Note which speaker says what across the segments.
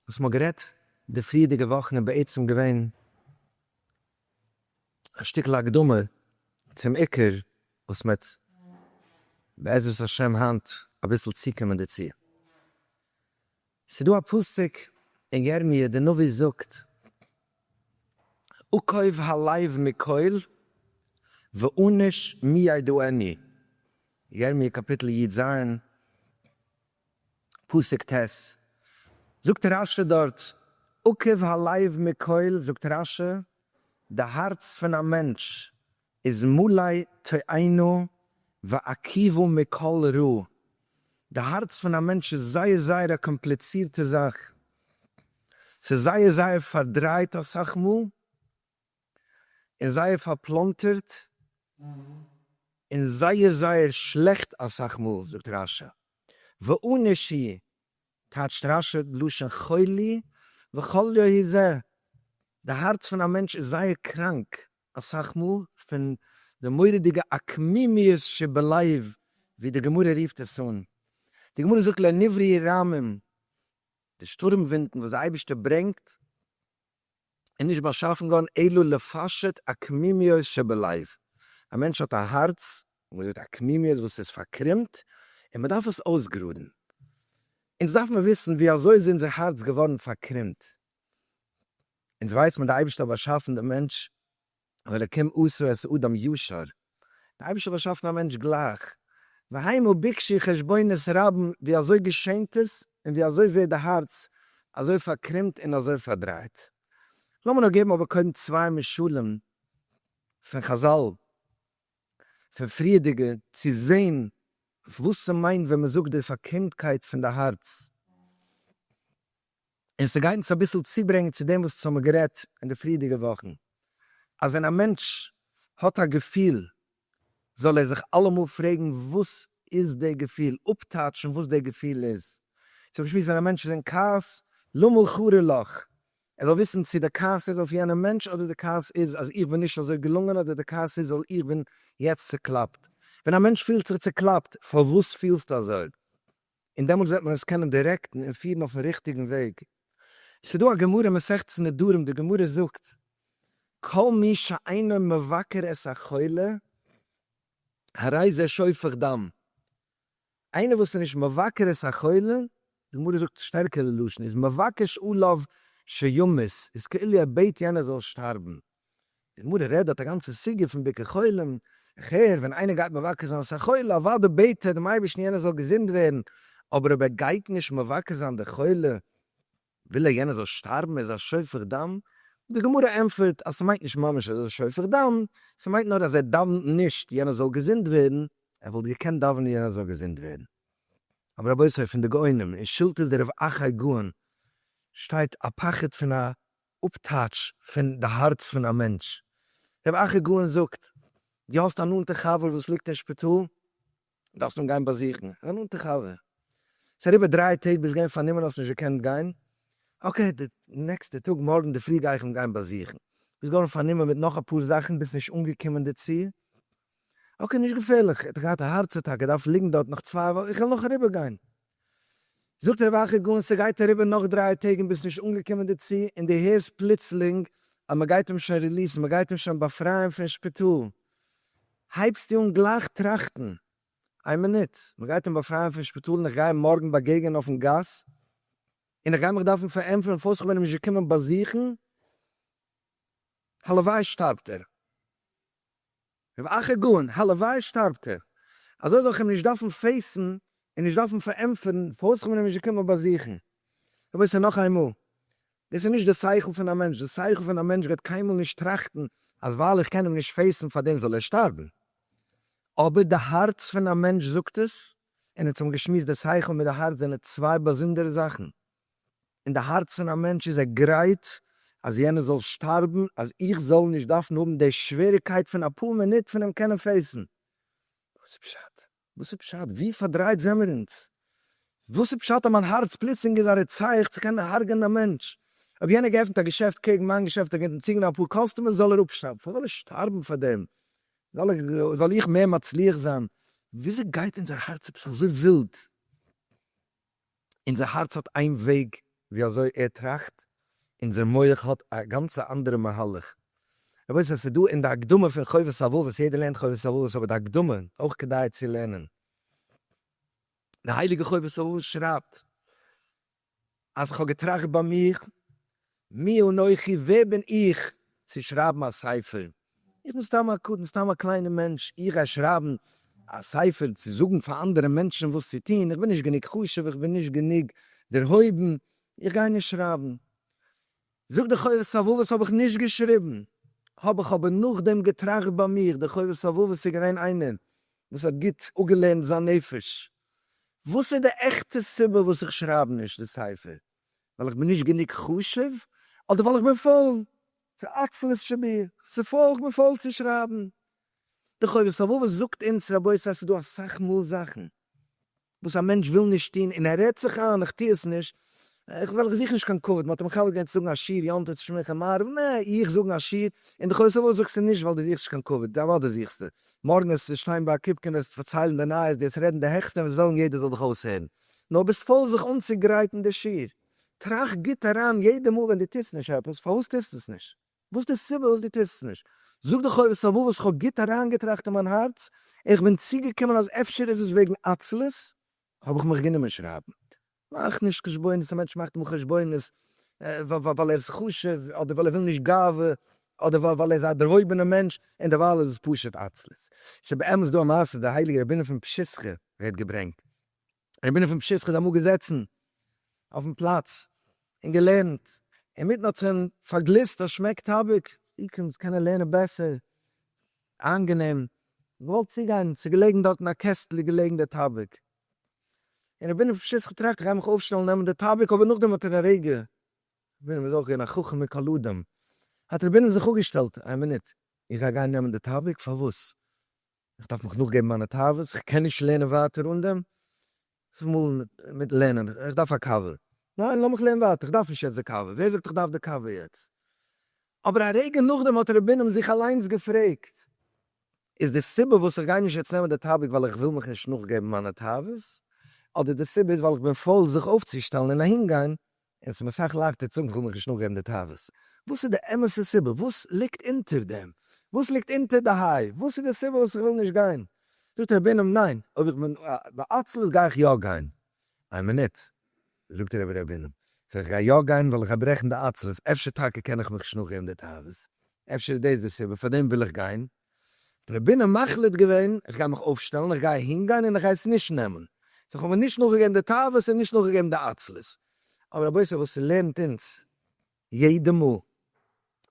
Speaker 1: וואס מ'האט גערעדט די פריערדיגע וואכן איז בעצם געווען א שטיקל הקדמה צום עיקר וואס מ'העט בעזרת השם היינט אביסל צוקומען דערצו. ס'איז דא א פסוק אין ירמי' דער נביא זאגט, עקוב הלב מכל ואנוש מי ידעני, ירמי' קאפיטל י ז, פסוק ט', זאגט רש י דארט, עוקב הלב מכל, זאגט רש י, די הארץ פון א מענטש איז מלא תאוה ועקיבא מכל רע, די הארץ פון א מענטש איז זייער זייער א קאמפליצירטע זאך, ס'איז זייער זייער פארדרייט אסאך מאל, און זייער פארפלאנטערט און זייער זייער שלעכט אסאך מאל זאגט רשע ועונש היא טייטשט רשע לשון חולי וכליו היא זה די הארץ פון א מענטש איז זייער קראנק אסאך מאל פון די מורא'דיגע עקמימיות שבלב ווי די גמרא רופט עס אן די גמרא זאגט לעניוורעי רמים די שטורם ווינטן וואס די אייבערשטער ברענגט און נישט באשאפן געווארן אלא לפשט הקמימיות שבלב, א מענטש האט א הארץ, ווי מ'זאגט א קמימיות וואס איז פארקרומט, און מ'דארף עס אויסגראדן, אונז דארף מען וויסן ווי אזוי איז אונזער הארץ געווארן פארקרומט, אונז ווייס מען די אייבערשטער האט באשאפן די מענטש ואלקים עשה את אדם ישר, דער אייבערשטער האט באשאפן א מענטש גלייך, והיינו ביקשי חשבונות רבים ווי אזוי געשענט עס און ווי אזוי ווערט די הארץ אזוי פארקרומט און אזוי פארדרייט. לאמיר נאר געבן אבער קודם צוויי משלים פון חזל פון פריערדיגע צו זען וואס ס'מיינט ווען מ'זאגט די פארקרומטקייט פון די הארץ. און ס'גייט אונז אביסל צוברענגען צו דעם וואס האמיר גערעדט אין די פריערדיגע וואכן, אז ווען א מענטש האט א געפיל זאל ער זיך אלעמאל פרעגן וואס איז די געפיל, אפטייטשן וואס די געפיל איז. צו בשמות ווען א מענטש איז אין כעס, למה חרה לך, ער זאל וויסן צו די כעס איז אויף יענעם מענטש אדער די כעס איז אז איך בין נישט אזוי געלונגען אדער די כעס איז ווייל איך בין יעצט צוקלאפט. ווען א מענטש פילט זיך צוקלאפט, פארוואס פילסטו אזוי? און דעמאלטס וועט מען עס קענען דירעקטן און פירן אויפן ריכטיגן וועג. ס'דא א גמרא מסכת נדרים, די גמרא זאגט, כל מי שאינו מבקר את החולה הרי זה שופך דם, איינער וואס איז נישט מבקר את החולה, די גמרא זאגט שטערקערע לשון, איז מבקש עליו שימות, איז כאילו ער בעט יענער זאל שטארבן, די מרא רעדט דארט א גאנצע סוגיא פון ביקור חולים, איך הער ווען איינער גייט מבקר זיין א חולה, אוודאי בעט ער דעם אייבערשטן יענער זאל געזונט ווערן, אבער אויב ער גייט נישט מבקר זיין די חולה, וויל ער יענער זאל שטארבן, ער איז א שופך דם, די גמרא ענטפערט אז ס'מיינט נישט ממש אז ער איז א שופך דם, ס'מיינט נאר אז ער דאוונט נישט יענער זאל געזונט ווערן, ער וואלט געקענט דאווענען יענער זאל געזונט ווערן. אבער רבותי פון די גאונים, אין שלטת די רב אחאי גאון שטייט א פחד פון א אפטייטש פון די הארץ פון א מענטש. ר' אחי גאון זאגט, דו האסט א נאנטע חבר וואס ליגט אין שפיטאל, דארפסט אים גיין באזוכן, א נאנטע חבר. ס'איז אריבער דריי טעג ביסט געווען פארנומען האסט נישט געקענט גיין, אקעי די נעקסטע טאג מארגן די פרי גיי איך אים גיין באזוכן, ביסט געווארן פארנומען מיט נאך אפאר זאכן ביסט נישט אנגעקומען דערצו, אקעי נישט געפערליך, ער האט געהאט א הארץ אטאקע דארף ליגן דארט נאך צוויי וואכן, איך וועל נאך אריבער גיין. זאגט ר' אחי גאון ס'גייט אריבער נאך דרײַ טעג און ביסט נישט אנגעקומען דערצו און דו הערסט פלוצלינג אז מ'גייט אים שוין ריליעסן, מ'גייט אים שוין באפרייען פון שפיטאל, הייבסטו אן גלייך טראכטן, איין מינוט, מ'גייט אים באפרייען פון שפיטאל און איך גיי אים מארגן באגעגענען אויפן גאס און איך גיי מיך דארפן פארענטפערן פארוואס כ'בין אים נישט געקומען באזוכן, הלוואי שטארבט ער. רב אחר גאון, הלוואי שטארבט ער, אזוי זאל איך אים נישט דארפן פעיסן און נישט דארפן פארענטפערן פארוואס איך בין אים נישט געקומען באזוכן. רבותי נאך איינמאל, דאס איז נישט די שכל פון א מענטש, די שכל פון א מענטש וועט קיינמאל נישט טראכטן אז ווייל איך קען אים נישט פעיסן פארדעם זאל ער שטארבן, אבער די הארץ פון א מענטש זאגט עס, און אונז האבן געשמועסט די שכל מיט די הארץ זענען צוויי באזונדערע זאכן, אין די הארץ פון א מענטש איז ער גרייט אז יענער זאל שטארבן אז איך זאל נישט דארפן האבן די שוועריקייט פון אפאר מינוט פון אים קענען פעיסן. וואס איז פשט? וואס איז פשט? ווי פארדרייט זעמער אונז? וואס איז פשט אז מיין הארץ פלוצלינג איז א רוצח צו קענען הרג'ענען א מענטש? אויב יענער האט געעפנט א געשעפט קעגן מיין געשעפט, ער געט אנטציקן די אפאר קאסטומערס, זאל ער אפשטארבן. פארוואס זאל ער שטארבן פאר דעם? זאל איך מער מצליח זיין? וויאזוי גייט אונזער הארץ עפעס אזוי ווילד? אונזער הארץ האט איין וועג ווי אזוי ער טראכט, אונזער מח האט א גאנצע אנדערע מהלך. רבותי עס איז דא אין די הקדמה פון חובת הלבבות, יעדער לערנט חובת הלבבות אבער די הקדמה אויך כדאי צו לערנען, די הייליגע חובת הלבבות שרייבט אז כ'האב געטראכט ביי מיך מי אנכי ווער בין איך צו שרייבן א ספר, איך בין סתם א קטן, סתם א קליינער מענטש, איך גיי שרייבן א ספר צו זאגן פאר אנדערע מענטשן וואס צו טון, איך בין נישט גענוג חשוב, איך בין נישט גענוג דערהויבן, איך גיי נישט שרייבן. זאג די חובת הלבבות האב איך נישט געשריבן, האב איך אבער נאכדעם געטראכט ביי מיך, די חובת הלבבות איז געווען איינער וואס האט גוט אפגעלערנט זיין נפש, וואס איז די עכטע סיבה וואס איך שרייב נישט די ספר? ווייל איך בין נישט גענוג חשוב אדער ווייל איך בין פויל? כעצלות שבי, ס'איז פויל, איך בין פויל צו שרייבן די חובת הלבבות זאגט אונז רבותי ס'איז דא אסאך מאל זאכן וואס א מענטש וויל נישט טון און ער רעדט זיך איין איך טו עס נישט ווייל איך זוך נישט קיין כבוד, מ'האט אים מכבד געווען צו זאגן א שיר יום טוב צו שמחה מעריב, נע איך זאגן א שיר און די חובת הלבבות זאגסטו נישט ווייל דו זוכסט נישט קיין כבוד, די אוודאי זוכסטו, מארגן וועסטו שטיין ביי א קופקע און וועסט פארציילן די נייעס דו וועסט רעדן די העכסטע און וועסט וועלן יעדער זאל דיך אויסהערן. נאר ביסט פויל זיך אנצוגרייטן די שיעור. טראכט גוט אריין יעדע מאל ווען דו טוסט נישט עפעס, פארוואס טוסטו עס נישט? וואס איז די סיבה וואס דו טוסט עס נישט? זאג דיך אויב עס איז א ווארט וואס כ'האב גוט אריינגעטראכט אין מיין הארץ און כ'בין צוגעקומען אז אפשר איז עס וועגן עצלות, האב איך מיך גענומען שרייבן. מאך נישט חשבונות, א מענטש מאכט אמאל חשבונות ווייל ער איז חשוב, אדער ווייל ער וויל נישט גאווה, אדער ווייל ער איז א דערהויבענער מענטש, און דערווייל איז עס פשוט עצלות. ס'איז באמת דא א מעשה, דער הייליגער רבי'ן פון פשיסחא ווערט געברענגט, איך בין אויפן פשעסחת אמאל געזעצן אויפן פלאץ און געלערנט, אינמיטן האט זיך אים פארגליסט א שמעק טאביק, ווי קומט צו קענען לערנען בעסער איינגענעם, געוואלט צוגיין, ס'איז געלעגן דארט אין א קעסטל איז געלעגן דער טאביק, און איך בין אויפן פשעסחת טראכט איך גיי מיך אויפשטעלן נעמען דער טאביק, אבער נאכדעם האט ער א רגע, רבינו איז אויך געווען א חכם מכל אדם, האט רבינו זיך אפגעשטעלט, איין מינוט, איך גיי גיין נעמען דער טאביק? פארוואס? איך דארף מיך נאכגעבן מיינע תאוות, איך קען נישט לערנען ווייטער אן דעם, וויפיל מאל מיט לערנען, איך דארף א קאווע, ניין לאמיך לערנען ווייטער, איך דארף נישט יעצט די קאווע, ווער זאגט איך דארף די קאווע יעצט? אבער א רגע נאכדעם האט ר' בינעם זיך אליינס געפרעגט, איז די סיבה וואס איך גיי נישט יעצט נעמען די טאביק ווייל איך וויל מיך נישט נאכגעבן מיינע תאוות, אדער די סיבה איז ווייל איך בין פויל זיך אויפצושטעלן און אהינגיין, און ס'איז מיר סאך לייכטער צו זאגן כ'וועל מיך נישט נאכגעבן די תאוות. וואס איז די אמת'ע סיבה? וואס ליגט אונטער דעם? וואס ליגט אונטער די היי? וואס איז די סיבה וואס איך וויל נישט גיין? זאגט רבי בינעם, ניין, אויב איך בין בעצלות גיי איך יא גיין. איין מינוט, זאגט רבי ר' בינעם, סאו איך גיי יא גיין ווייל איך גיי ברעכן די עצלות, אפשר טאקע קען איך מיך נישט נאכגעבן די תאוות, אפשר איז דאס די סיבה, פארדעם וויל איך גיין. די רעבינע מחליט געווען איך גיי מיך אויפשטעלן איך גיי אהין גיין און איך גיי עס נישט נעמען סאו כ'האב מיר נישט נאכגעגעבן די תאוות און נישט נאכגעגעבן די עצלות אבער רבותי וואס ס'לערנט אונז יעדע מאל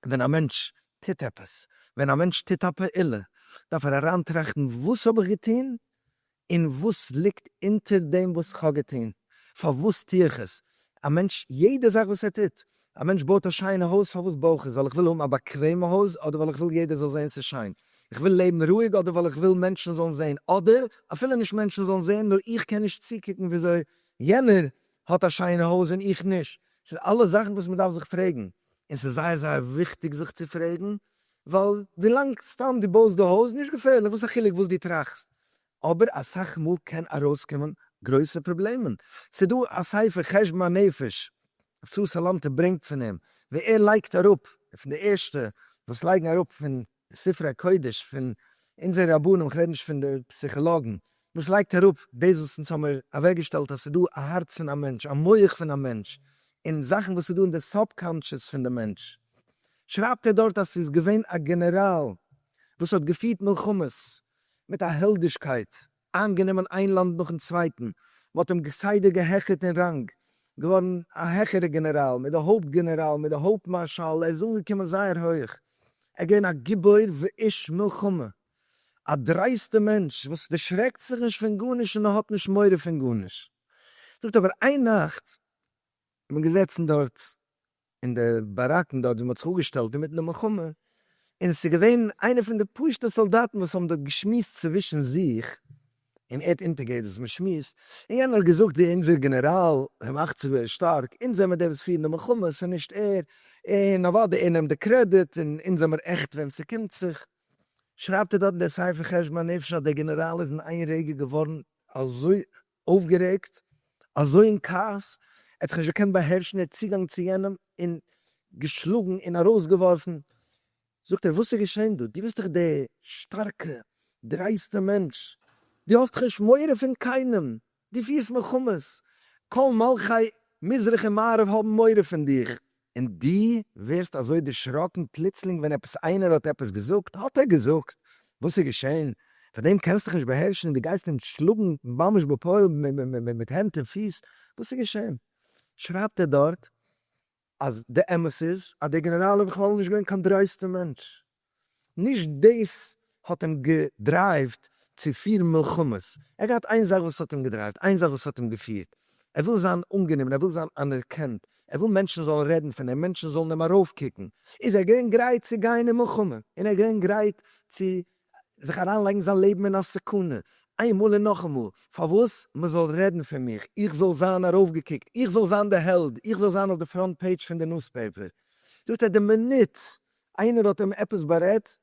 Speaker 1: ווען א מענטש טוט עפעס ווען א מענטש טוט א פעולה דארף ער אריינטראכטן וואס האב איך געטון און וואס ליגט אונטער דעם וואס כ'האב געטון? פארוואס טו איך עס? א מענטש, יעדע זאך וואס ער טוט. א מענטש בויט א שיינע הויז, פארוואס בוי איך עס? ווייל איך וויל האבן א באקוועמע הויז, אדער ווייל איך וויל יעדער זאל זען ס'איז שיין? איך וויל לעבן רואיג, אדער ווייל איך וויל מענטשן זאלן זען, אדער אפילו נישט מענטשן זאלן זען, נאר איך קען נישט צוקוקן וויאזוי יענער האט א שיינע הויז און איך נישט? ס'איז אלעס זאכן וואס מ'דארף זיך פרעגן, און ס'איז זייער זייער וויכטיג זיך צו פרעגן, ווייל ווילאנג סתם דו בויסט די הויז, נישט געפערליך, וואס א חילוק וואס דו טראכסט? אבער אסאך מאל קען ארויסקומען גרויסע פראבלעמען, ס'איז דא א ספר חשבון הנפש ר' צבי סאלאנטער ברענגט פון אים ווי ער לייגט אראפ, ער פון די ערשטע וואס לייגן אראפ פון ספרי הקודש פון אונזערע רבנים, כ'רעד נישט פון די פסיכאלאגן, וואס לייגט אראפ דאס וואס אונז האמיר אוועקגעשטעלט אז ס'איז דא א הארץ פון א מענטש, א מח פון א מענטש, און זאכן וואס איז דא אין די סאבקאנטשעס פון די מענטש, שרייבט ער דארט אז ס'איז געווען א גענעראל וואס האט געפירט מלחמות מיט אַ העלדישקײט אײַנגענומען אײן לאַנד נאָכן צװײטן. מע האָט אים כּסדר געהעכערט אין ראַנג, געװאָרן אַ העכערער גענעראַל, מיט די הױפּט-גענעראַלן, מיט די הױפּט-מאַרשאַלן, ער איז אָנגעקומען זײער הױך. ער איז געװען אַ גיבור ואיש מלחמה, אַ דרײסטער מענטש, װאָס דערשרעקט זיך נישט פֿון גאָרנישט און האָט נישט מורא פֿון גאָרנישט. זאָגט אָבער, אײן נאַכט איז מען געזעצן דאָרט אין די באראקן דארט ווי מ'האט זיך אפגעשטעלט אינמיטן די מלחמה, און עס איז געווען איינער פון די פשוטע סאלדאטן וואס האבן דארט געשמועסט צווישן זיך, און ער האט אונטערגעהערט וואס מ'שמועסט, און יענער האט געזאגט ווי אונזער גענעראל ווען מ'אכט זיך ווער איז שטארק, אונז זעמער די וואס פירן די מלחמה, ס'איז נישט ער, און אוודאי ער נעמט די קרעדיט, און אונז זעמער עכט וועם ס'קומט זיך. שרייבט ער דארט אין די ספר חשבון הנפש אז דער גענעראל איז אין איין רגע געווארן אזוי אויפגערעגט, אזוי אין כעס, ער האט זיך נישט געקענט באהערשן, ער האט צוגאנג צו יענעם און געשלאגן און ארויסגעווארפן. זאגט ער, וואס איז געשען דא? דו ביסט דאך דער שטארקע, דרייסטע מענטש, דו האסט דאך נישט מורא פון קיינעם, דו פירסט מלחמות, כל מלכי מזרח און מערב האבן מורא פון דיך, און דו ווערסט אזוי דערשראקן פלוצלינג ווען עפעס איינער האט עפעס געזאגט, האט ער געזאגט? וואס איז געשען? פאר דעם קענסט דיך נישט באהערשן און דו גייסט אים שלאגן ממש בפועל מיט הענט און פיס? וואס איז געשען? שרייבט ער דארט אז די אמת איז אז דער גענעראל איז בכלל נישט געווען קיין דרויסטע מענטש, נישט דאס האט אים געדרייווט צו פירן מלחמות, ער האט געהאט איין זאך וואס האט אים געדרייווט, איין זאך וואס האט אים געפירט, ער וויל זיין אנגענומען, ער וויל זיין אנערקענט, ער וויל מענטשן זאלן רעדן פון אים, מענטשן זאלן אים ארויפקוקן, איז ער געווען גרייט צו גיין אין מלחמה, און ער איז געווען גרייט צו זיך אריינלייגן זיין לעבן אין א סכנה, איינמאל און נאכאמאל, פארוואס? מען זאל רעדן פון מיך, איך זאל זיין ארויפגעקוקט, איך זאל זיין די העלד, איך זאל זיין אויף די פראנט פעידזש פון די נוספעיפער, זאגט ער, די מינוט איינער האט אים עפעס בארעדט?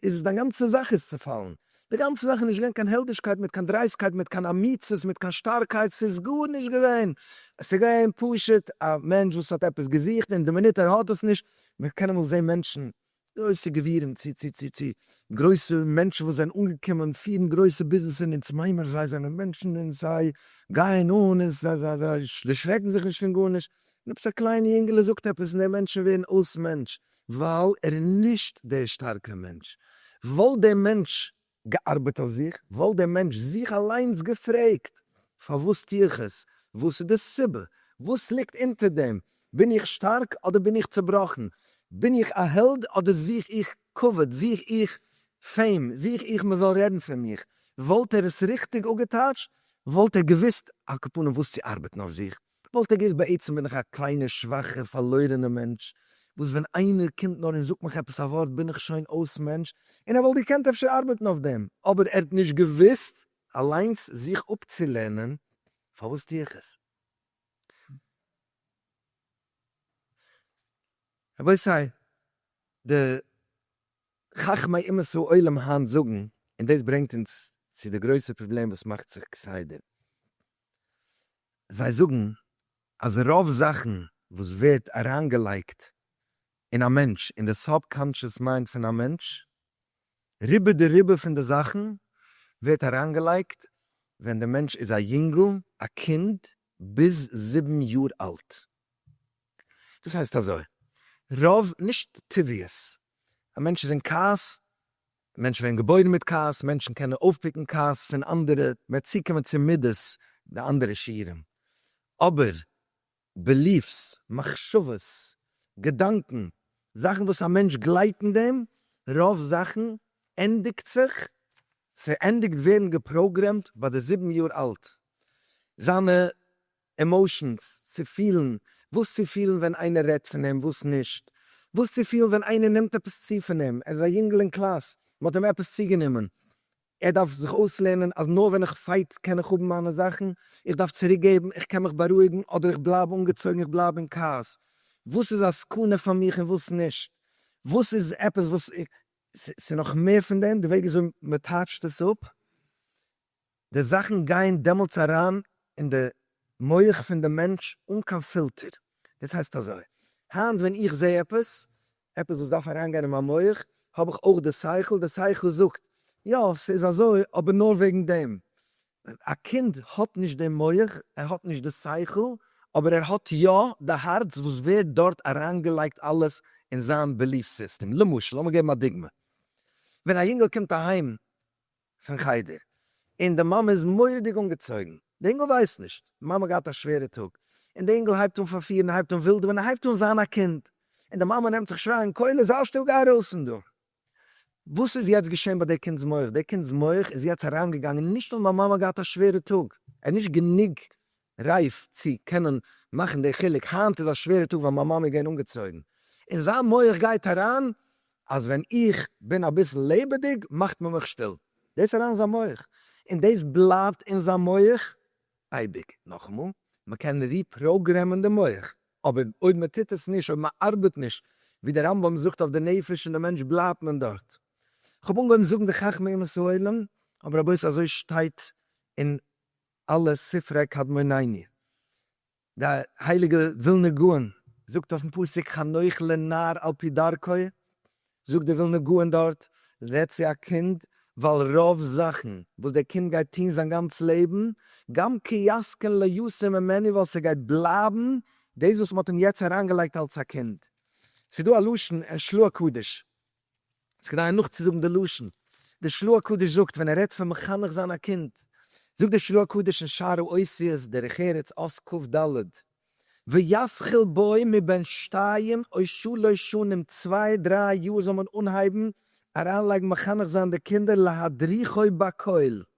Speaker 1: איז עס דיין גאנצע זאך איז צופאלן? די גאנצע זאך איז נישט געווען קיין העלדישקייט מיט קיין דרייסקייט מיט קיין אמיצות מיט קיין שטארקייט ס'איז גארנישט געווען עס איז געווען פשוט א מענטש וואס האט עפעס געזוכט און די מינוט ער האט עס נישט מען קען אמאל זעהן מענטשן גרויסע גבירים צו צו צו צו גרויסע מענטשן וואס זענען אנגעקומען פירן גרויסע ביזנעסען און צום עמער זיי זענען מענטשן און זיי גייען אן און זיי דערשרעקן זיך נישט פון גארנישט עפעס א קליינע יונגעלע זאגט עפעס און די מענטשן ווערן אויס מענטש ווייל ער איז נישט דער שטארקער מענטש, וואלט דער מענטש געארבעט אויף זיך וואלט דער מענטש זיך אליינס געפרעגט פארוואס טו איך עס? וואס איז די סיבה? וואס ליגט אונטער דעם? בין איך שטארק אדער בין איך צובראכן? בין איך א העלד אדער זוך איך כבוד? זוך איך פעים? זוך איך מען זאל רעדן פון מיך? וואלט ער עס ריכטיג אפגעטייטשט וואלט ער געוואוסט על כפנים וואס צו ארבעטן אויף זיך כ'וואלט א גערעכט בעצם בין איך א קליינע שוואכע פארלוירענע מענטש וואס ווען איינער קומט נאר און זאגט מיך עפעס א ווארט בין איך שוין אויס מענטש און ער וואלט געקענט אפשר ארבעטן אויף דעם אבער ער האט נישט געוואוסט אליינס זיך אפצולערנען פארוואס טו איך עס. רבותי די חכמי אומות העולם היינט זאגן און דאס ברענגט אונז צו די גרויסע פראבלעם וואס מאכט זיך כסדר. זיי זאגן אז רוב זאכן וואס ווערט אריינגעלייגט אין א מענטש, אין די סאב-קאנטשעס מיינד פון א מענטש, רובא דרובא פון די זאכן ווערט אריינגעלייגט ווען די מענטש איז א יונגל, א קינד, ביז זיבן יאר אלט. דאס הייסט אזוי, רוב, נישט טבעיות, א מענטש איז אין כעס, מענטשן ווערן געבוירן מיט כעס, מענטשן קענען אויפפיקן כעס פון אנדערע, מ'וועט צוקומען צו מידות די אנדערע שיעורים, אבער בעליף'ס, מחשבות, געדאנקען, זאכן וואס א מענטש גלייבט אין דעם, רוב זאכן ענדיגט זיך, ס'ענדיגט ווערן געפראגרעמט ביי די זיבן יאר אלט, זיינע עמאושענס, צו פילן, וואס צו פילן ווען איינער רעדט פון אים, וואס נישט, וואס צו פילן ווען איינער נעמט עפעס צו פון אים, ער איז א יונגל אין קלאס, מ'האט אים עפעס צוגענומען, ער דארף זיך אויסלערנען אז נאר ווען איך פייט קען איך האבן מיינע זאכן, איך דארף צוריקגעבן, איך קען מיך בארואיגן, אדער איך בלייב אנגעצויגן, איך בלייב אין כעס, וואס איז א סכנה פאר מיך און וואס נישט, וואס איז עפעס וואס, ס'איז נאך מער פון דעם, די וועג וויאזוי מ'טייטשט עס אפ, די זאכן גייען דעמאלטס אריין אין די מח פון די מענטש אן קיין פילטער, דאס הייסט אזוי, היינט ווען איך זע עפעס, עפעס וואס דארף אריינגיין אין מיין מח, האב איך אויך די שכל, די שכל זאגט, יא, ס'איז אזוי, אבער נאר וועגן דעם. א קינד האט נישט דעם מח, ער האט נישט די שכל, אבער ער האט יא די הארץ וואס ווערט דארט אריינגעלייגט אלעס אין זיין בעליף סיסטעם. למשל, לאמיר געבן א דוגמא, ווען א יונגעל קומט אהיים פון חדר, און די מאמע איז מורא'דיג אנגעצויגן, די אינגל ווייסט נישט, די מאמע האט געהאט א שווערע טאג, און די אינגל הייבט אן פארפירן, הייבט אן ווילדעווען, און הייבט אן זיין א קינד, און די מאמע נעמט זיך שרייען, קוילער זיי שטיל גיי ארויס פון דא. וואס איז יעצט געשען ביי די קינד'ס מח, די קינד'ס מח איז יעצט אריינגעגאנגען, נישט נאר מיין מאמע האט געהאט א שווערע טאג, ער האט נישט גענוג רייף צו קענען מאכן די חילוק, היינט איז א שווערע טאג ווייל מיין מאמע איז געווען אנגעצויגן, אין זיין מח גייט אריין אז ווען איך בין אביסל לעבעדיג מאכט מען מיך שטיל, דאס אריין אין זיין מח, און דאס בלייבט אין זיין מח אייביג, נאכאמאל, מען קען ריפראגרעמען די מח, אבער אויב מען טוט עס נישט, אויב מען ארבעט נישט ווי דער רמב ם זאגט אויף די נפש און די מענטש בלייבט מען דארט. כ'האב אנגעהויבן זאגן די חכמי אומות העולם, אבער רבותי אזוי שטייט אין אלע ספרי קדמונינו, די הייליגע ווילנא גאון זאגט אויפן פסוק חנוך לנער על פי דרכו, זאגט די ווילנא גאון דארט, רעד צו א קינד, ווייל רוב זאכן וואס דער קינד גייט טון זיין גאנץ לעבן, גם כי יזקן לא יסור ממנו ווייל ס'גייט בלייבן דאס וואס מ'האט אים יעצט אריינגעלייגט אלץ א קינד. ס'דא א לשון אין שלוה קדיש יעצט כדי נאכצוזאגן די לשון, דער של ה הקדוש זאגט ווען ער רעדט פון מחנך זיין א קינד, זאגט דער של ה הקדוש אין שערי אותיות דרך ארץ אות קכ ד, וישכיל בו מבין שתיים או שלש שנים צוויי דריי יאר זאל מען אנהייבן אריינלייגן מחנך זיין די קינדער להדריכו בקהל,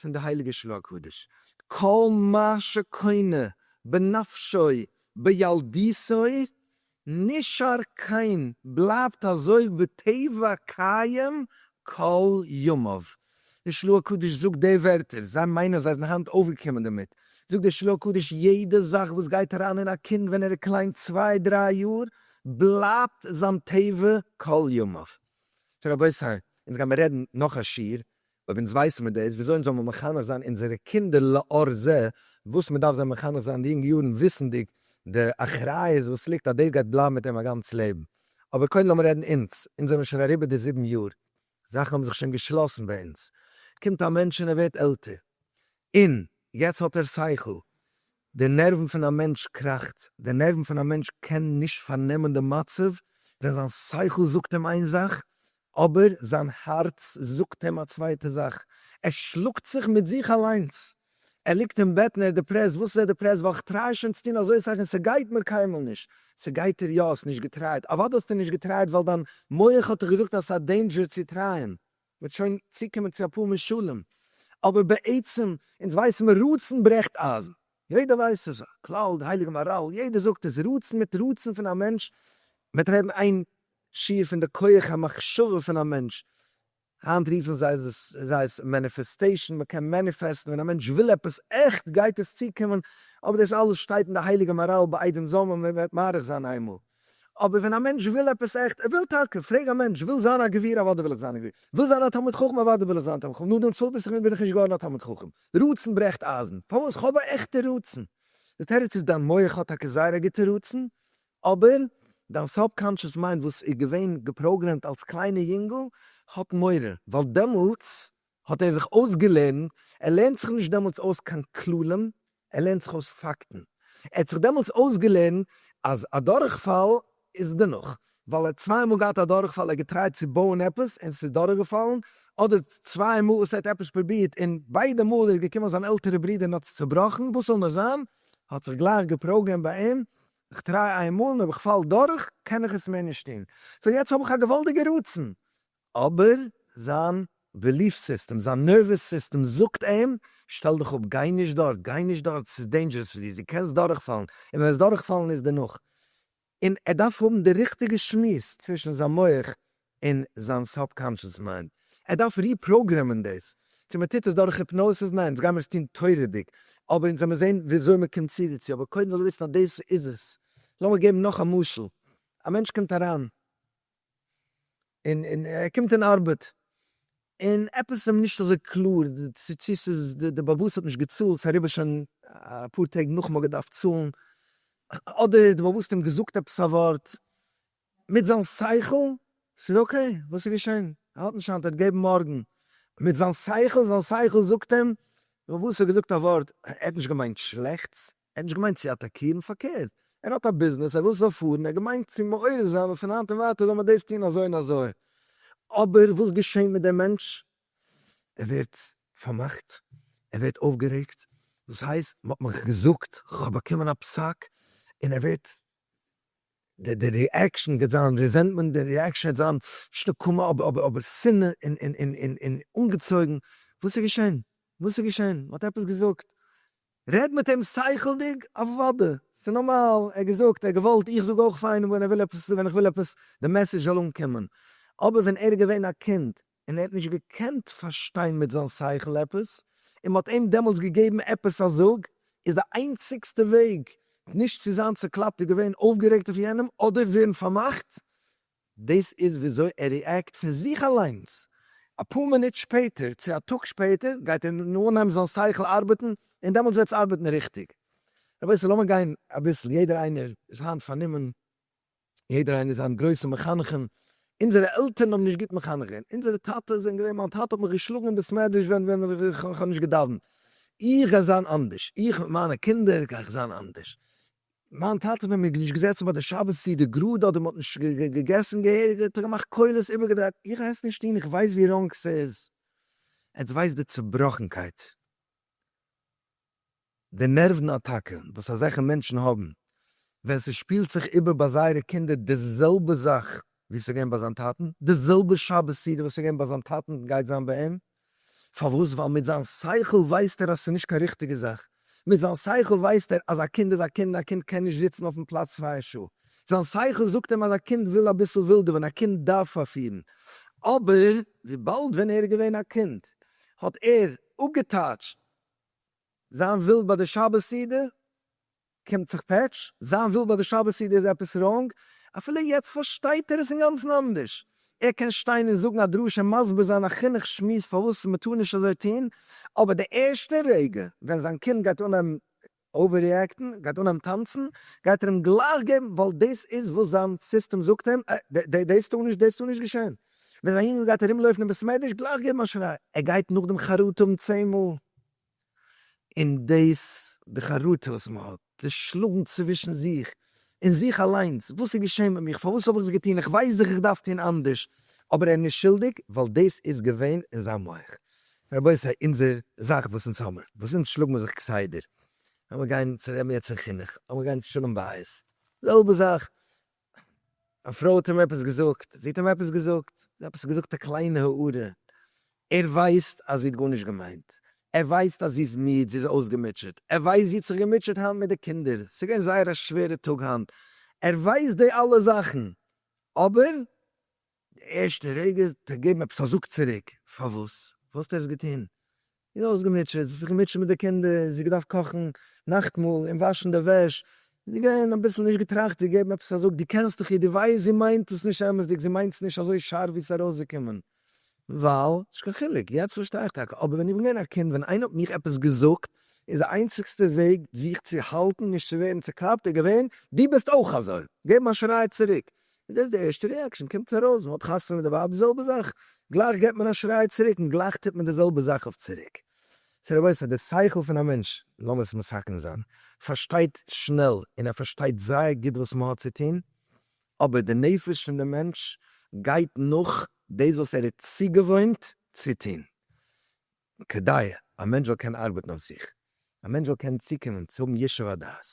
Speaker 1: פון די הייליגע שלו הקדוש, כל מה שקונה בנפשו בילדותו נשאר קיים בלייבט אזוי בטבע קיים כל ימיו, די שלו הקדוש זאגט די ווערטער, זיי מיינען זיי זענען היינט אויפגעקומען דערמיט, זאגט די שלו הקדוש יעדע זאך וואס גייט אריין אין א קינד ווען ער איז קליין צוויי דריי יאר בלייבט זיין טבע כל ימיו. סאו רבותי אונז גיימער רעדן נאך א שיעור אויב אונז ווייסן מיר דאס, וויאזוי אונז זאל מען מחנך זיין אונזערע קינדער לאור זה וואס מען דארף זיי מחנך זיין אין די יונגע יארן וויסנדיג די אחריות וואס ליגט אז דאס גייט בלייבן מיט אים א גאנץ לעבן. אבער קודם לאמיר רעדן אונז, אונז זעמיר שוין אריבער די זיבן יאר, זאכן האבן זיך שוין געשלאסן ביי אונז, קומט א מענטש און ער ווערט עלטער, און יעצט האט ער שכל, די נערוון פון א מענטש קראכט, די נערוון פון א מענטש קען נישט פארנעמען די מצב ווען זיין שכל זאגט אים איין זאך אבער זיין הארץ זאגט אים א צווייטע זאך, ער שלאגט זיך מיט זיך אליינס, ער ליגט אין בעט און ער איז דיפרעסט, וואס איז ער דיפרעסט? ווייל איך טריי שוין צו טון אזוי אסאך און ס'גייט מיר קיינמאל נישט, ס'גייט דיר יא, האסט נישט געטרייט, אוודאי האסטו נישט געטרייט ווייל דיין מח האט דיך געזאגט אז ס'איז א דעינדזשער צו טרייען, מ'וועט שוין צוקומען צו אפאר משלים, אבער בעצם אונז ווייסן מיר רצון ברעכט אייזן, יעדער ווייסט ס'איז א כלל, די הייליגע מאראל, יעדער זאגט עס, רצון מיט רצון פון א מענטש, מ'וועט רעדן איין שיעור פון די כח המחשבה פון א מענטש, היינט רופן זיי עס מעניפעסטעישן, מ'קען מעניפעסטן, ווען א מענטש וויל עפעס עכט גייט עס צוקומען, אבער דאס אלעס שטייט אין די הייליגע מאראל באידען זאל מען מער מאריך זיין איינמאל. אבער ווען א מענטש וויל עפעס עכט, ער וויל טאקע, פרעג א מענטש, וויל זיין א גביר? אוודאי וויל איך זיין א גביר. וויל זיין א תלמיד חכם? אוודאי וויל איך זיין א תלמיד חכם. נאר דעם צוליב וואס איך וויל בין איך נישט געווארן א תלמיד חכם. רצון ברעכט אייזן. פארוואס? כ'האב א עכטע רצון. די תירוץ איז דיין מח האט טאקע זייער א גוטע רצון, אבער דיין סאבקאנטשעס מיינד וואס איז געווען געפראגרעמט אלס קליינע יונגל האט מורא, ווייל דעמאלטס האט ער זיך אויסגעלערנט, ער לערנט זיך נישט דעמאלטס אויס קיין כללים, ער לערנט זיך אויס פאקטן. ער האט זיך דעמאלטס אויסגעלערנט אז א דורכפאל איז דערנאך, ווייל ער האט צוויי מאל געהאט א דורכפאל, ער האט געטרייט צו בויען עפעס און ס'איז דורכגעפאלן, אדער צוויי מאל וואס ער האט עפעס פרובירט און ביידע מאל איז געקומען זיין עלטערע ברודער און האט עס צעבראכן, וואס זאל נאר זיין, האט זיך גלייך געפראגרעמט ביי אים, איך טריי איין מאל און אויב איך פאל דורך קען איך עס מער נישט טון, סאו יעצט האב איך א געוואלדיגע רצון אבער זיין בעליף סיסטעם, זיין נערוועס סיסטעם זאגט אים, שטעל דיך אפ, גיי נישט דארט, גיי נישט דארט, ס'איז דעינדזשערעס פאר דיר, דו קענסט דורכפאלן, און ווען וועסט דורכפאלן איז דערנאך. און ער דארף האבן די ריכטיגע שמועס צווישן זיין מח און זיין סאבקאנשעס מיינד, ער דארף ריפראגרעמען דאס. צו מען טוט עס דורך היפנאסיס? ניין, דאס גיימער עס טון תורה'דיג, אבער אונז וועמער זען וויאזוי מען קומט צו דערצו, אבער קודם זאל ער וויסן אז דאס איז עס. לאמיר געבן נאך א משל, א מענטש קומט אריין און ער קומט אין ארבעט, און עפעס איז אים נישט אזוי קלאר, צו ס'איז די באבוס האט נישט געצאלט, ס'איז אריבער שוין אפאר טעג נאך מ'האט געדארפט צאלן, אדער די באבוס האט אים געזאגט עפעס א ווארט, מיט זיין שכל, ס'איז אקעי, וואס איז געשען, ער האט נישט היינט, ער וועט געבן מארגן, מיט זיין שכל, זיין שכל זאגט אים, די באבוס האט געזאגט א ווארט, ער האט נישט געמיינט שלעכטס, ער האט נישט געמיינט צו אטאקירן, פארקערט, ער האט א ביזנעס, ער וויל ס'זאל פארן, ער האט געמיינט צו מעורר זיין אז פון היינט און ווייטער זאל מען דאס טון אזוי און אזוי. אבער וואס געשעהן מיט דעם מענטש? ער ווערט פארמאכט, ער ווערט אויפגערעגט, דאס הייסט מ'האט מיך געזאגט, כ'האב באקומען א פסק, און ער ווערט, די די ריעקשאן וועט זיין ריזענטמענט, די ריעקשאן וועט זיין נישט נקמה אבער אבער שנאה און און און און אנגעצויגן, וואס איז געשעהן? וואס איז געשעהן? מ'האט עפעס געזאגט? רעד מיט אים שכל'דיג, אוודאי, ס'איז נארמאל, ער געזאגט, ער האט געוואלט, איך זאג אויך פיין ווען ער וויל עפעס, ווען איך וויל עפעס די מעסעדזש זאל אנקומען, אבער ווען ער איז געווען א קינד און ער האט נישט געקענט פארשטיין מיט זיין שכל עפעס, און מ'האט אים דעמאלטס געגעבן עפעס א זאג, איז די איינציגסטע וועג נישט צו זיין צעקלאפט איז געווען אויפגערעגט אויף יענעם אדער ווערן פארמאכט דאס איז וויאזוי ער ריעקט פון זיך אליינס. אפאר מינוט שפעטער צו א טאג שפעטער גייט ער אנהייבן זיין שכל ארבעטן און דעמאלטס וועט עס ארבעטן ריכטיג. רבותי לאמיר גיין אביסל, יעדער איינער איז היינט פארנומען, יעדער איינער איז היינט גרויסע מחנכים, אונזערע עלטערן האבן נישט גוט מחנך געווען, אונזערע טאטעס זענען געווען, מיין טאטע האט מיך געשלאגן אין בעסמעדרעש ווען ווען איך האב נישט געדאווענט, איך גיי זיין אנדערש, איך מיט מיינע קינדער גיי איך זיין אנדערש, מיין טאטע ווען מ'איז נישט געזעצן ביי די שבת סעודה גראד אדער מ'האט נישט געגעסן געהעריג האט ער געמאכט קולות איבערגעדרייט, איך גיי עס נישט טון איך ווייס ווי ראנג ס'איז, עטס ווייסט די צובראכנקייט, די נערוון אטאקע וואס אזעלכע מענטשן האבן ווען ס'שפילט זיך איבער ביי זייערע קינדער די זעלבע זאך ווי ס'איז געווען ביי זיין טאטן, די זעלבע שבת סדר וואס ס'איז געווען ביי זיין טאטן גייט זיין ביי אים, פארוואס? ווייל מיט זיין שכל ווייסט ער אז ס'איז נישט קיין ריכטיגע זאך, מיט זיין שכל ווייסט ער אז א קינד איז א קינד, א קינד קען נישט זיצן אויפן פלאץ צוויי שעה, זיין שכל זאגט אים אז א קינד וויל אביסל ווילדעווען, א קינד דארף פארפירן, אבער וויבאלד ווען ער איז געווען א קינד האט ער אפגעטייטשט זיין ווילד ביי די שבת סדר, קומט זיך פעטש, זיין בילד ביי די שבת סעודה איז עפעס ראנג, אפילו יעצט פארשטייט ער עס אינגאנצן אנדערש, ער קען שטיין און זאגן א דרשה און מסביר זיין א חינוך שמועס פארוואס מען טאר נישט אזוי טון, אבער די ערשטע רגע ווען זיין קינד גייט אנהייבן אווער-ריעקטן, גייט אנהייבן טאנצן, גייט ער אים גלייך געבן, ווייל דאס איז וואס זיין סיסטעם זאגט אים, אה, דאס טאר נישט, דאס טאר נישט געשען. ווען זיין יונגל גייט ארומלויפן אין בית מדרש, גלייך געבן א שריי, ער גייט נאכדעם חרטה האבן צען מאל. און דאס די חרטה וואס מען האט, די שלאגן צווישן זיך, אין זיך אליינס, וואס איז געשען מיט מיך, פארוואס האב איך עס געטון, איך ווייס דאך איך דארף טון אנדערש, אבער ער איז נישט שולדיג, ווייל דאס איז געווען אין זיין מח. רבותי אונזער זאך וואס אונז האמער, וואס אונז שלאג מיר זיך כסדר, אז מיר גייען צו ר' מרדכי'ן חינוך, אז מיר גייען צו שלום בית, זעלבע זאך, א פרוי האט אים עפעס געזאגט, זי האט אים עפעס געזאגט, זי האט עפעס געזאגט א קליינע הערה, ער ווייסט אז זי האט גארנישט געמיינט, ער ווייסט אז זי איז מיד, זי איז אויסגעמוטשעט, ער ווייסט זי האט זיך געמוטשעט היינט מיט די קינדער, ס'איז געווען זייער א שווערע טאג היינט, ער ווייסט די אלע זאכן, אבער די ערשטע רגע האט ער געגעבן עפעס א זאג צוריק, פארוואס? וואלסט עפעס געטון? זי איז אויסגעמוטשעט, זי האט זיך געמוטשעט מיט די קינדער, זי האט געדארפט קאכן נאכטמאל און וואשן די וועש, זי איז געווען אביסל נישט געטראכט צו געבן עפעס א זאג, דו קענסט דאך איר, דו ווייסט זי מיינט עס נישט אמת'דיג, זי מיינט עס נישט אזוי שארף ווי עס איז ארויסגעקומען, וואו? נישט קיין חילוק, יעצט פארשטיי איך טאקע, אבער ווען איך בין געווען א קינד, ווען איינער האט מיך עפעס געזאגט, איז די איינציגסטע וועג זיך צו האלטן נישט צו ווערן צוקלאפט איז געווען, דו ביסט אויך אזוי, געבן א שריי צוריק, איז דאס די ערשטע ריעקשאן, קומט ארויס מען האט חתונה מיט די ווייב די זעלבע זאך, גלייך געט מען א שריי צוריק און גלייך טוט מען די זעלבע זאך אויף צוריק. סא רבותי די שכל פון א מענטש, לאמיר עס מסכם זיין, פארשטייט שנעל און ער פארשטייט זייער גוט וואס מען האט צו טון, אבער די נפש פון די מענטש גייט נאך דאס וואס ער איז צוגעוואוינט צו טון. כדי א מענטש זאל קענען ארבעטן אויף זיך, א מענטש זאל קענען צוקומען צו האבן ישוב הדעת.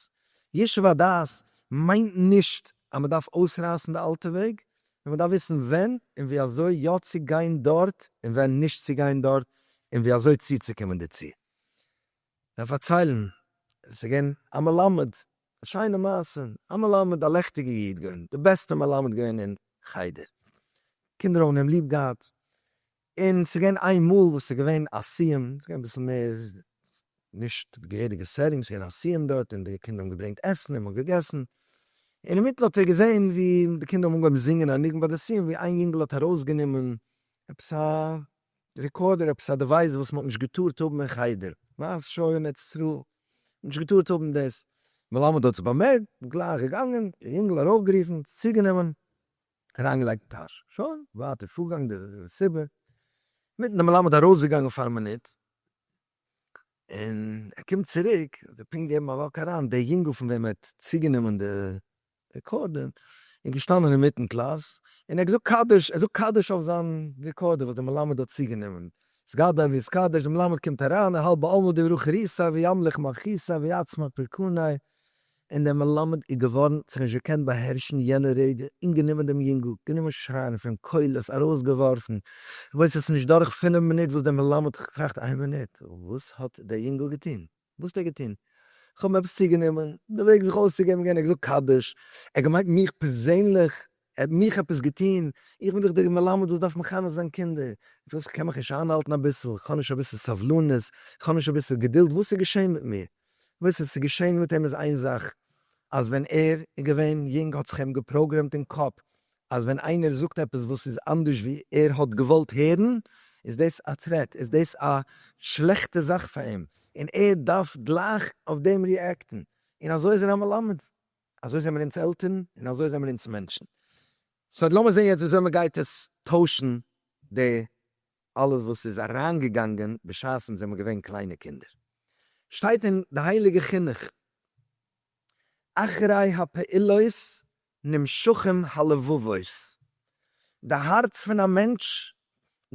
Speaker 1: ישוב הדעת מיינט נישט אז מען דארף אויסרייסן די אלטע וועג, נאר מען דארף וויסן ווען און ווי אזוי יא צו גיין דארט און ווען נישט צו גיין דארט און ווי אזוי צוצוקומען דערצו. זיי פארציילן, עס איז געווען א מלמד, א שיינע מעשה, א מלמד, א לעכטיגע איד געווען, די בעסטע מלמד געווען אין חדר, קינדער האבן אים ליב געהאט, און ס'איז געווען איין מאל וואס ס'איז געווען א סיום, ס'איז געווען אביסל מער נישט די געהעריגע סעטינג, ס'איז געווען א סיום דארט און די קינדער האבן געברענגט עסן און מ'האט געגעסן, און אינמיטן האט ער געזען ווי די קינדער האבן אנגעהויבן זינגען א ניגון ביי די סיום, ווי איין יונגעל האט ארויסגענומען עפעס א רעקארדער, עפעס א דעווייס וואס מ'האט נישט געטארט האבן אין חדר, מאז שור און עץ רעה, מ'האט נישט געטארט האבן דאס, מלמד האט עס באמערקט, גלייך געגאנגען, די יונגעל ארויפגערופן, צוגענומען, אריינגעלייגט אין טאש, שוין, ווייטער פארגאנג די מסיבה, מיטן די מלמד ארויסגעגאנגען פאר א מינוט, און ער קומט צוריק, ער האט זיך פונקט געגעבן א וואק אריין, דער יונגל פון וועם ער האט צוגענומען די רעקארדער, איז געשטאנען אינמיטן קלאס, און ער האט געזאגט קדיש, ער זאגט קדיש אויף זיין רעקארדער וואס די מלמד האט צוגענומען, סגדל ויסקדש, די מלמד קומט אריין, האלב בעלמא דברכא ריסא וימליך מלכיסא ויעצמא פרקנאי, און דער מלמד איז געװאָרן זיך נישט געקענט באַהערשן יענע רעדע און גענומען דעם יונגל, גענומען שרײַען פֿון קולות, אַרױסגעװאָרפֿן, װאָס עס איז נישט דורך פֿינף מינוט, װאָס דער מלמד האָט געטראַכט, אײן מינוט, װאָס האָט דער יונגל געטאָן? װאָס האָט ער געטאָן? איך האָב אים עפּעס צוגענומען, דער װעג זיך אױסצוגעבן, געװען, ער האָט געזאָגט קדיש, ער האָט געמײנט מיך פּערזענלעך, ער האט מיך עפעס געטון? איך בין דאך דער מלמד וואס דארף מחנך זיין קינדער, וואס? כ'קען מיך נישט איינהאלטן אביסל? כ'האב נישט אביסל סבלנות? כ'האב נישט אביסל געדולד? וואס איז געשען מיט מיר? וואס עס איז געשען מיט אים איז איין זאך, אז ווען ער איז געווען יונג האט זיך אים געפראגרעמט אין קאפ אז ווען איינער זאגט עפעס וואס איז אנדערש ווי ער האט געוואלט הערן, איז דאס א טרעט, איז דאס א שלעכטע זאך פאר אים, און ער דארף גלייך אויף דעם ריעקטן, און אזוי איז ער א מלמד. אזוי זעמיר אונז עלטערן און אזוי זעמיר אונז מענטשן. סא לאמיר זען יעצט וויאזוי מ'גייט עס טוישן די אלעס וואס איז אריינגעגאנגען בשעת אונז זעמיר געווען קליינע קינדער. שטייט אין די הייליגע חינוך אחרי הפעילות נמשכים הלבבות, די הארץ פון א מענטש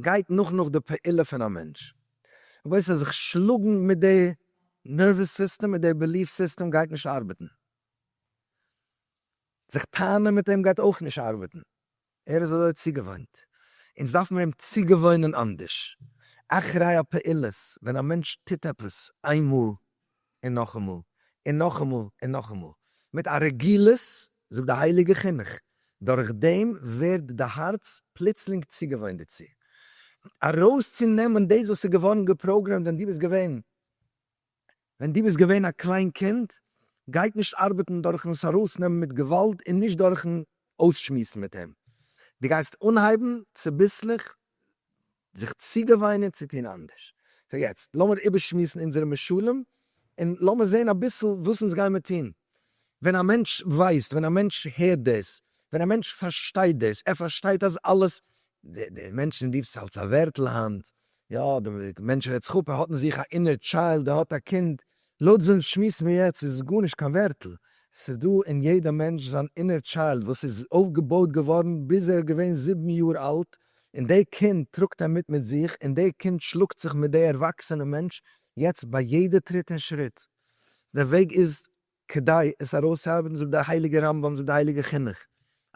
Speaker 1: גייט נאך נאך די פעולה פון א מענטש, אבער עס זיך שלאגן מיט די נערוועס סיסטעם מיט די בעליף סיסטעם גייט נישט ארבעטן, זיך טענה'ן מיט אים גייט אויך נישט ארבעטן, ער איז אזוי צוגעוואוינט, אונז דארף מיר אים צוגעוואוינען אנדערש, אחרי הפעולות, ווען א מענטש טוט עפעס איינמאל און נאכאמאל, און נאכאמאל, און נאכאמאל, מיט א רגילות, זאגט די הייליגע חינוך, דורך דעם ווערט די הארץ פלוצלינג צוגעוואוינט דערצו, ארויסצונעמען דאס וואס איז געווארן געפראגרעמט ווען דו ביסט געווען, ווען דו ביסט געווען א קליין קינד, גייט נישט ארבעטן דורכן עס ארויסנעמען מיט געוואלד און נישט דורכן אויסשמועסן מיט אים, דו גייסט אנהייבן צוביסלעך זיך צוגעוויינען צו טון אנדערש. סאו יעצט לאמיר איבערשמועסן אונזערע משלים, און לאמיר זען אביסל וואס אונז גיימער טון. ווען א מענטש ווייסט, ווען א מענטש הערט דאס, ווען א מענטש פארשטייט דאס, ער פארשטייט אז אלעס, די די מענטשן די וואס אלס א ווערטל היינט, יא, די מענטש רעדט זיך אפ, ער האט אין זיך א אינער טשיילד, ער האט א קינד, לויט זיין שמועס פון יעצט איז עס גארנישט קיין ווערטל, ס'איז דא אין יעדע מענטש זיין אינער טשיילד וואס איז אויפגעבויט געווארן ביז ער איז געווען זיבן יאר אלט, און די קינד טראגט ער מיט מיט זיך, און די קינד שלאגט זיך מיט די ערוואקסענע מענטש יעצט ביי יעדע טריט און שריט. דער וועג איז כדי עס ארויסצוארבעטן זאגט דער הייליגער רמבם, זאגט די הייליגע חינוך,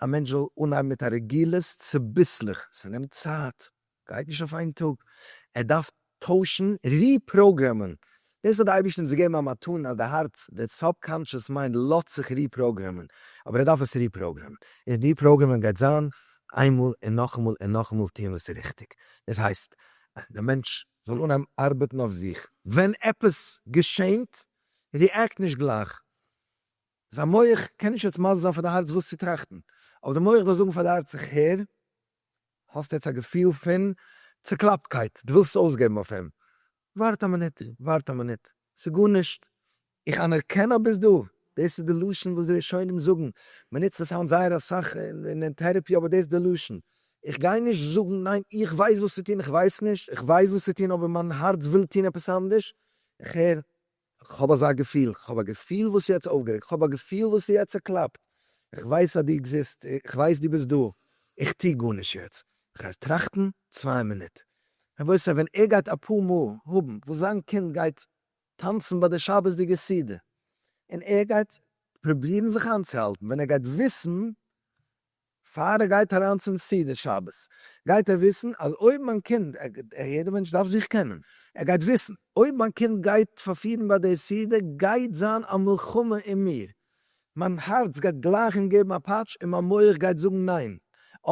Speaker 1: א מענטש זאל אנהייבן מיט א רגילות צוביסלעך, ס'נעמט צייט, גייט נישט אויף איין טאג, ער דארף טוישן, ריפראגרעמען, דאס האט די אייבערשטער אונז געגעבן א מתנה אז די הארץ, די סאבקאנטשעס מיינד לאזט זיך ריפראגרעמען, אבער ער דארף עס ריפראגרעמען, און ריפראגרעמען גייט זיין איינמאל און נאכאמאל און נאכאמאל טון וואס איז ריכטיג, דאס הייסט אז די מענטש זאל אנהייבן ארבעטן אויף זיך, ווען עפעס געשענט, ריעקט נישט גלייך, זיין מח קען נישט יעצט מסביר זיין פאר די הארץ וואס צו טראכטן, אבער די מח דארף זאגן פאר די הארץ איך הער, האסט יעצט א געפיל פון צוקלאפטקייט, דו ווילסט עס אויסגעבן אויף אים, ווארט א מינוט, ווארט א מינוט, ס'איז גארנישט, איך אנערקען אז ביסט דא, דאס איז די לשון וואס די ראשונים זאגן, מ'נוצט עס היינט זייער אסאך אין טערעפי, אבער דאס איז די לשון, איך גיי נישט זאגן ניין, איך ווייס וואס צו טון, איך ווייס נישט, איך ווייס וואס צו טון אבער מיין הארץ וויל טון עפעס אנדערש, איך הער כ'האב אזא געפיל, כ'האב א געפיל וואס יעצט אויפגערעגט, כ'האב א געפיל וואס יעצט צוקלאפט, כ'ווייס אז דו עקזיסט, כ'ווייס דו ביסט דא, איך טו גארנישט יעצט, כ'גיי טראכטן צוויי מינוט. רבותי ווען ער גייט אפאר מאל האבן וואס זיין קינד גייט טאנצן ביי די שבת'דיגע סעודה, און ער גייט פרובירן זיך איינצוהאלטן, ווען ער גייט וויסן פאר ער גייט אריין צום סידור שבת גייט ער וויסן אז אויב מיין קינד, יעדער מענטש דארף זיך קענען, ער גייט וויסן אויב מיין קינד גייט פארפירן ביי די סידור גייט זיין א מלחמה אין מיר, מיין הארץ גייט גלייך אים געבן א פאטש און מיין מח גייט זאגן ניין,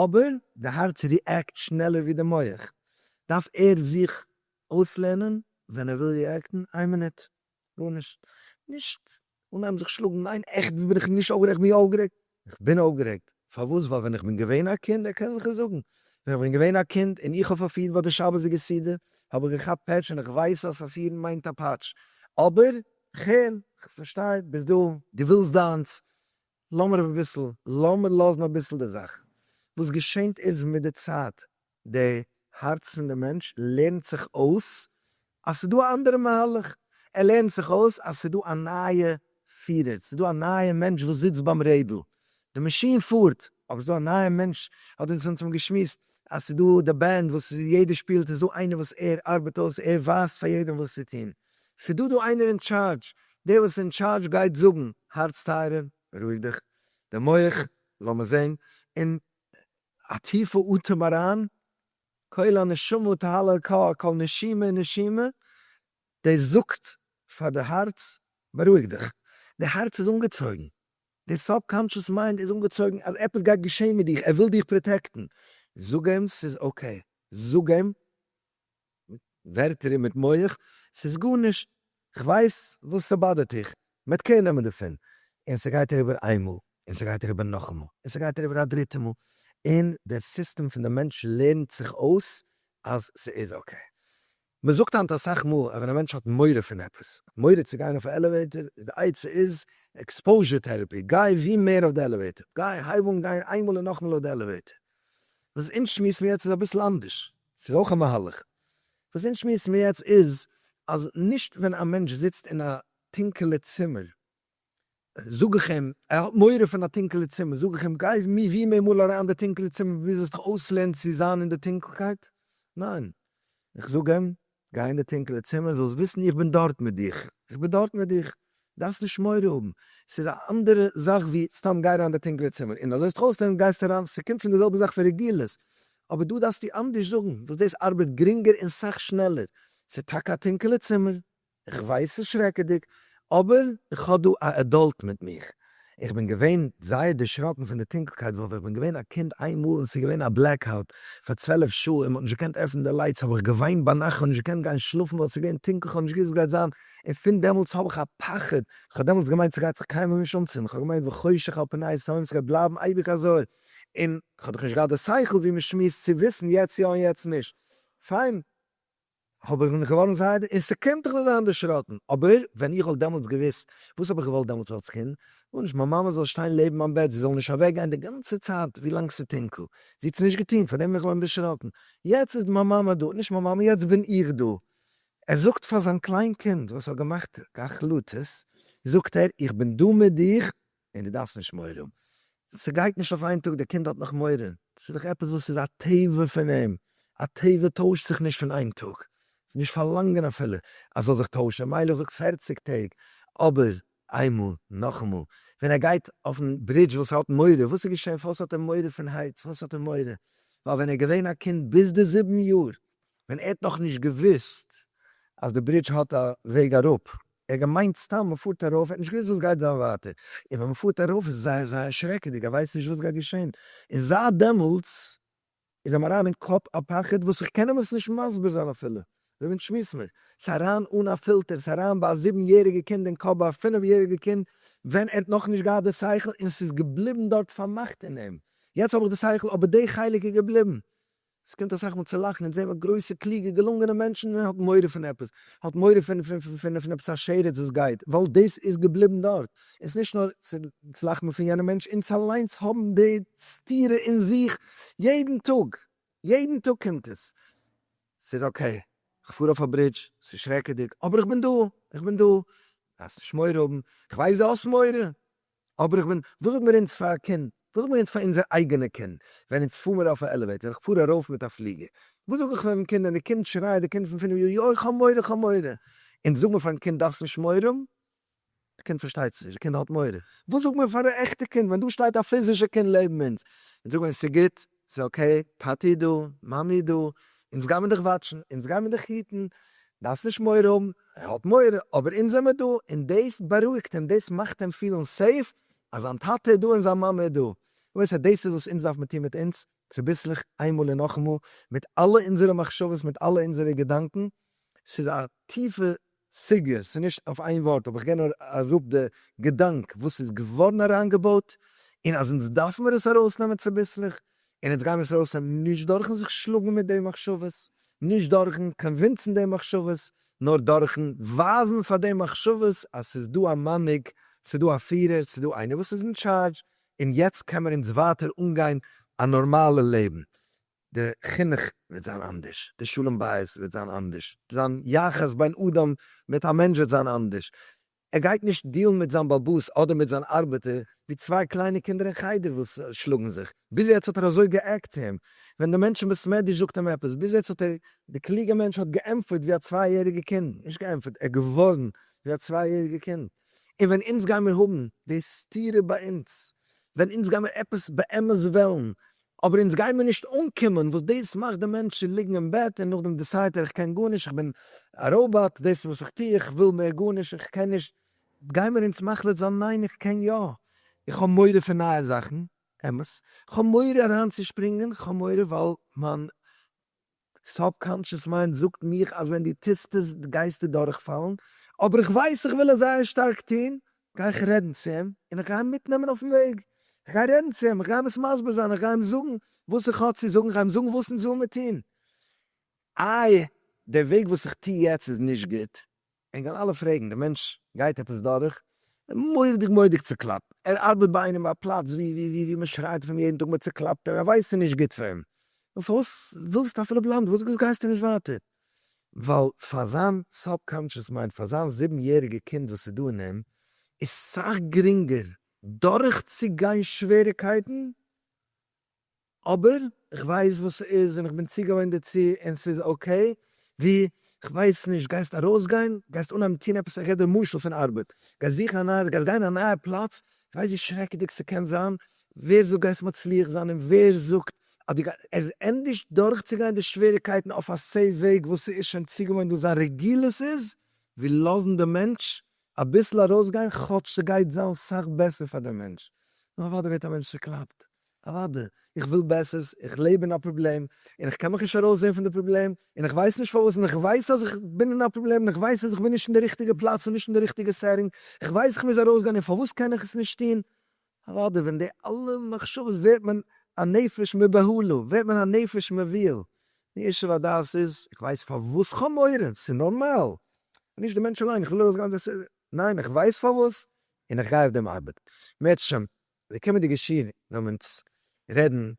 Speaker 1: אבער די הארץ ריעקט שנעלער ווי די מח, דארף ער זיך אויסלערנען ווען ער וויל ריעקטן, איין מינוט. גארנישט, נישט אנהייבן זיך שלאגן, ניין עכט בין איך נישט אויפגערעגט, כ'בין יא אויפגערעגט, כ'בין אויפגערעגט, פארוואס? ווייל ווען איך בין געווען א קינד, ער קען זיך עס זאגן, ווען איך בין געווען א קינד און איך האב פארפירט ביי די שבת'דיגע סעודה, האב איך געכאפט פעטש און איך ווייס אז פארפירן מיינט א פאטש, אבער כ'הער, כ'פארשטיי, ביסט דא, דו ווילסט דיינס, לאמיר אביסל, לאמיר לאזן אביסל די זאך, וואס געשענט איז מיט די צייט, די הארץ פון די מענטש לערנט זיך אויס אז ס'איז דא א אנדערע מהלך, ער לערנט זיך אויס אז ס'איז דא א נייע פירער, ס'איז דא א נייע מענטש וואס זיצט ביים רעדל, די מאשין פארט אבער ס'איז דא א נייע מענטש, האט אונז אונז האבן געשמועסט אז ס'איז דא די בענד וואס יעדער שפילט, איז דא איינער וואס ער ארבעט אויס, ער ווייזט פאר יעדעם וואס צו טון, ס'איז דא דא איינער אין טשארדזש, דער וואס איז אין טשארדזש גייט זאגן, הארץ טייערער, רואיג דיך, די מח, לאמיר זען, און א טיפע אטעם אריין, קול הנשמה תהא לאלקה, קול נשימה נשימה, דאס זאגט פאר די הארץ בארואיג דיך, די הארץ איז אנגעצויגן, די סאב קאנטשעס מיינד איז אנגעצויגן אז עפעס גייט געשען מיט דיך, ער וויל דיך פראטעקטן, זאג אים ס'איז אקעי, זאג אים ווערטער און מיט מח, ס'איז גארנישט, כ'ווייס וואס ס'באדערט דיך, מ'וועט קעיר נעמען דערפון, און ס'גייט אריבער איין מאל, און ס'גייט אריבער נאכאמאל, און ס'גייט אריבער א דריטע מאל, און דער סיסטעם פון די מענטש לערנט זיך אויס אז ס'איז אקעי. מ'זאגט היינט אסאך מאל אז ווען א מענטש האט מורא פון עפעס, מורא צו גיין אויף א עלעוועיטער, די עצה איז עקספאוזשער טעראפי, גיי ווי מער אויף די עלעוועיטער, גיי, הייב אן גיין איינמאל און נאכמאל אויף די עלעוועיטער. וואס אונז שמועסן יעצט איז אביסל אנדערש, ס'איז אויך א מהלך. וואס אונז שמועסן מיר יעצט איז אז נישט ווען א מענטש זיצט אין א טונקעלע צימער זאג איך אים, ער האט מורא פון א טונקעלע צימער, זאג איך אים גיי ווי מער מאל אריין אין די טונקעלע צימער ביז זאלסט דיך אויסלערנען צו זיין אין די טונקלקייט. ניין. איך זאג אים גיי אין די טונקעלע צימער זאלסט וויסן איך בין דארט מיט דיך, איך בין דארט מיט דיך, דארפסט נישט מורא האבן, ס'איז א אנדערע זאך ווי סתם גיי אריין אין די טונקעלע צימער און אזוי זיך אויסלערנען גייסטו אריין, ס'קומט פון די זעלבע זאך פון רגילות, אבער דא דארפסטו אנדערש זאגן וואס דאס ארבעט גרינגער און סאך שנעלער, ס'איז טאקע א טונקעלע צימער, איך ווייס ס'איז שרעקעדיג, אבער איך האב דא א עדאלט מיט מיך, איך בין געווען זייער דערשראקן פון די טונקלקייט ווייל ווען איך בין געווען א קינד איין מאל און עס איז געווען א בלעקאוט פאר צוועלף שעה און מען האט נישט געקענט עפענען די לייטס האב איך געוויינט ביינאכט איך האב נישט געקענט גיין שלאפן ווייל עס איז געווען טונקל איך האב נישט געוואוסט וואס גייט זיין און פון דעמאלטס האב איך א פחד איך האב דעמאלטס געמיינט ס'גייט זיך קיינמאל נישט אנצינדן איך האב געמיינט וחושך על פני תהום ס'גייט בלייבן אייביג אזוי און איך האב דאך נישט געהאט די שכל ווי מען שמועסט צו וויסן יעצט יא און יעצט נישט פיין. האב איך בין איך געווארן זייער און ס'קומט איך זאל זיין דערשראקן, אבער ווען איך וואלט דעמאלטס געוואוסט, וואס האב איך געוואלט דעמאלטס אלס קינד? גארנישט, מיין מאמע זאל שטיין לעבן מיין בעט, זי זאל נישט אוועק גיין די גאנצע צייט ווי לאנג ס'איז טונקל, זי האט עס נישט געטון, פאר דעם בין איך געווארן דערשראקן, יעצט איז מיין מאמע דא, נישט מיין מאמע, יעצט בין איך דא. ער זאגט פאר זיין קליין קינד וואס האט געמאכט החלטות, זאגט ער, איך בין דא מיט דיך, און דו דארפסט נישט מורא האבן, ס'גייט נישט אויף איין טאג, דער קינד האט נאך מורא, ס'איז דאך עפעס וואס איז א טבע פון אים, א טבע טוישט זיך נישט פון איין טאג, נישט פארלאנגען אפילו אז ס'זאל זיך טוישן, מילא איך זאג פֿערציק טעג, אבער איינמאל, נאכאמאל, ווען ער גייט אויפן ברידזש וואס ער האט מורא, וואס איז געשען, פארוואס האט ער מורא פון הייץ, פארוואס האט ער מורא, ווייל ווען ער איז געווען א קינד ביז די זיבן יאר, ווען ער האט נאכנישט געוואוסט אז די ברידזש האט א וועג אראפ, ער האט געמיינט סתם מען פארט ארויף, ער האט נישט געוויסט וואס גייט זיין ווייטער, און ווען מען פארט ארויף איז זייער זייער שרעקעדיג, ער ווייסט נישט וואס גייט געשען, און זייט דעמאלטס איז אים אריין אין קאפ א פחד וואס איך קען אים עס נישט מסביר זיין אפילו, אזוי ווי שמועס מיר, ס'איז אריין אן א פילטער, ס'איז אריין ביי א זיבן יעריגע קינד אין קאפ, ביי א פינף יעריגע קינד ווען ער האט נאכנישט געהאט די שכל, און ס'איז געבליבן דארט פארמאכט אין אים, יעצט האב איך די שכל אבער די חלק איז געבליבן, עס קומט אסאך מאל צו לאכן און זעהן ווען גרויסע קלוגע געלונגענע מענטשן האט מורא פון עפעס, האט מורא פון פון פון עפעס א שרץ וואס גייט, ווייל דאס איז געבליבן דארט, און ס'איז נישט נאר צו צו לאכן פון יענע מענטש, אונז אליינס האבן די סתירה אין זיך יעדן טאג, יעדן טאג קומט עס, ס'איז אקעי, כ'פאר אויף א ברידזש, ס'איז שרעקעדיג, אבער איך בין דא, איך בין דא, דארפסט נישט מורא האבן, כ'ווייס דו האסט מורא, אבער איך בין, וואס זאגט מיר אונז פאר א קינד? וואס זאגט מיר אונז פאר אונזער אייגענע קינד? ווען אונז פאר מיר אויף א עלעוועיטער, איך פאר ארויף מיט א פליגער, וואס זאג איך פארן קינד ווען די קינד שרייעט, די קינד פון פינף יאר, יוי כ'האב מורא כ'האב מורא! אונז זאג מיר פארן קינד דארפסט נישט מורא האבן, די קינד פארשטייט עס נישט, די קינד האט מורא. וואס זאג מיר פאר א עכטע קינד ווען דא שטייט א פיזישע קינד לעבן אונז, אונז זאג מיר אונז ס'גוט, ס'איז אקעי, טאטי איז דא, מאמי איז דא, אונז גיימיר דיך וואטשן, אונז גיימיר דיך היטן, דארפסט נישט מורא האבן, ער האט מורא, אבער אונז זעמיר דא, און דאס בארואיגט אים, דאס מאכט אים פילן סעיף אז זיין טאטע איז דא און זיין מאמע איז דא, למעשה דאס איז וואס אונז דארף מען טון מיט אונז, צוביסלעך, איינמאל און נאכאמאל, מיט אלע אונזערע מחשבות, מיט אלע אונזערע געדאנקען, ס'איז א טיפע סוגיות, ס'איז נישט אויף איין ווארט אבער איך גיי נאר אראפ די געדאנק וואס איז געווארן אריינגעבויט און אז אונז דארף מיר עס ארויסנעמען צוביסלעך און אונז גייען מיר עס ארויסנעמען נישט דורכן זיך שלאגן מיט די מחשבות, נישט דורכן קאנווינסן די מחשבות, נאר דורכן ווייזן פאר די מחשבות אז ס'איז דא א מנהיג, ס'איז דא א פירער, ס'איז דא איינער וואס איז אין טשארדזש און יעצט קען מען אונז ווייטער אנגיין א נארמאלע לעבן. די חינוך וועט זיין אנדערש, די שלום בית וועט זיין אנדערש, זיין יחס בין אדם מיט א מענטש וועט זיין אנדערש, ער גייט נישט דילן מיט זיין באבוס אדער מיט זיין ארבעטער ווי צוויי קליינע קינדער אין חדר וואס שלאגן זיך, ביז יעצט האט ער אזוי גע'גט צו אים, ווען די מענטשן בית מדרש זאגט אים עפעס, ביז יעצט האט ער, די קלוגע מענטש האט געענטפערט ווי א צוויי יעריגע קינד, נישט געענטפערט, ער איז געווארן ווי א צוויי יעריגע קינד, און ווען אונז גיימיר האבן די סתירה ביי אונז, ווען אונז גיימיר עפעס באמת וועלן, אבער אונז גיימיר נישט אנקומען וואס דאס מאכט די מענטש צו ליגן אין בעט און נאכדעם דעסיידט ער איך קען גארנישט איך בין א ראובאט דאס איז וואס איך טו איך וויל מער גארנישט איך קען נישט גיימיר אונז מחליט זיין ניין איך קען יא איך האב מורא פון נייע זאכן אמת איך האב מורא אריינצושפרינגען איך האב מורא ווייל מיין סאבקאנטשעס מיינד זאגט מיך אז ווען דו טוסט עס גייסטו דורכפאלן, אבער איך ווייס איך וויל עס זייער שטארק טון, גיי איך רעדן צו אים, און איך גיי אים מיטנעמען אויפן וועג, איך גיי רעדן צו אים, איך גיי אים עס מסביר זיין, איך גיי אים זאגן וואס איך האב צו זאגן, איך גיי אים זאגן וואס אונז ווילמער טון, איי דער וועג וואס איך טו יעצט איז נישט גוט, ענק וועלן אלע פרעגן, דער מענטש גייט עפעס דורך און מורא'דיג מורא'דיג צוקלאפט, ער ארבעט ביי איינעם ביי א פלאץ ווי מען שרייט אויף אים יעדן טאג, מען צוקלאפט אים, ער ווייסט ס'איז נישט גוט פאר אים, נו פארוואס ווילסטו אפילו בלייבן, פארוואס גייסטו נישט ווייטער? ווייל פאר זיין סאבקאנטשעס מיינד, פאר זיין זיבן יעריגע קינד וואס איז דא אין אים, איז סאך גרינגער דורכצוגיין שוועריגקייטן, אבער איך ווייס וואס ס'איז און איך בין צוגעוואוינט דערצו און ס'איז אקעי, ווי, כ'ווייס נישט, גייסט ארויסגיין? גייסט אנהייבן טון עפעס? איך גיב דיר משל פון ארבעט, גייסט זוכן א נייע, גייסט גיין אין א נייע פלאץ, כ'ווייס ווי שרעקעדיג ס'קען זיין, ווער זאגט גייסט מצליח זיין און ווער זאגט אז דו גייסט, עס איז ענדערש דורכצוגיין די שוועריגקייטן אויף א סעיף וועג וואס ס'איז שוין צוגעוואוינט וואס זיין רגילות איז, ווי לאזן די מענטש אביסל ארויסגיין כאטש ס'גייט זיין סאך בעסער פאר דעם מענטש, נאר אוודאי ווערט א מענטש צוקלאפט אוואדע, איך וויל בעסערס, איך לעב אין א פראבלעם, און איך קען מיך נישט ארויס זעהן פון די פראבלעם, און איך ווייס נישט פארוואס, און איך ווייס אז איך בין אין א פראבלעם, און איך ווייס אז איך בין נישט אין די ריכטיגע פלאץ און נישט אין די ריכטיגע סעטינג, איך ווייס איך מוז ארויסגיין און פארוואס קען איך עס נישט טון? אוואדע, ווען די אלע מחשבות ווערט מען א נפש מבהלה, ווערט מען א נפש מבהיל, די ישוב הדעת איז, איך ווייס פארוואס איך האב מורא, ס'איז נארמאל, נישט די מענטש אליין, איך וויל ארויסגיין, ניין איך ווייס פארוואס, און איך גיי אויף דעם ארבעט, מערטשעם, די קומענדיגע שיעור וועלן אונז רעדן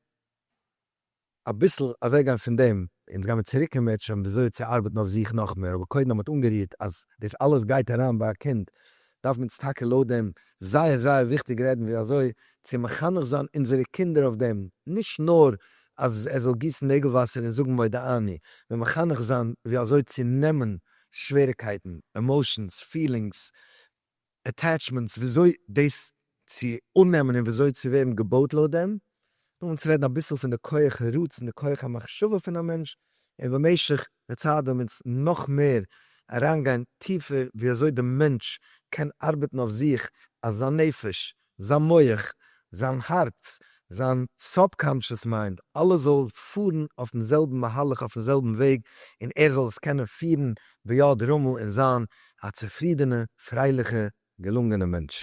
Speaker 1: אביסל אוועקגיין פון דעם, אונז גיימיר צוריק אין מענטשהאם וויאזוי צו ארבעטן אויף זיך נאך מער, אבער קודם האט מען אנגערירט אז דאס אלעס גייט אריין ביי א קינד, דארפן אונז טאקע לויט דעם זייער זייער וויכטיג רעדן ווי אזוי צו מחנך זיין אונזערע קינדער אויף דעם, נישט נאר אז ער זאל גיסן נעגל וואסער און זאגן מודה אני, נאר מחנך זיין ווי אזוי צו נעמען שוועריקייטן, עמאושענס, פילינגס, עטעטשמענטס וויאזוי דאס צו אננעמען און וויאזוי צו ווערן געבויט לויט דעם, נאכדעם צו רעדן אביסל פון די כח הרצון די כח המחשבה פון א מענטש, און במשך די צייט וועלן מיר אונז נאך מער אריינגיין טיפער ווי אזוי די מענטש קען ארבעטן אויף זיך אז זיין נפש זיין מח, זיין הארץ, זיין סאבקאנטשעס מיינד, אלעס זאל פארן אויפן זעלבן מהלך, אויפן זעלבן וועג, און ער זאל עס קענען פירן ביד רמה און זיין א צופרידענע, פרייליכע, געלונגענע מענטש.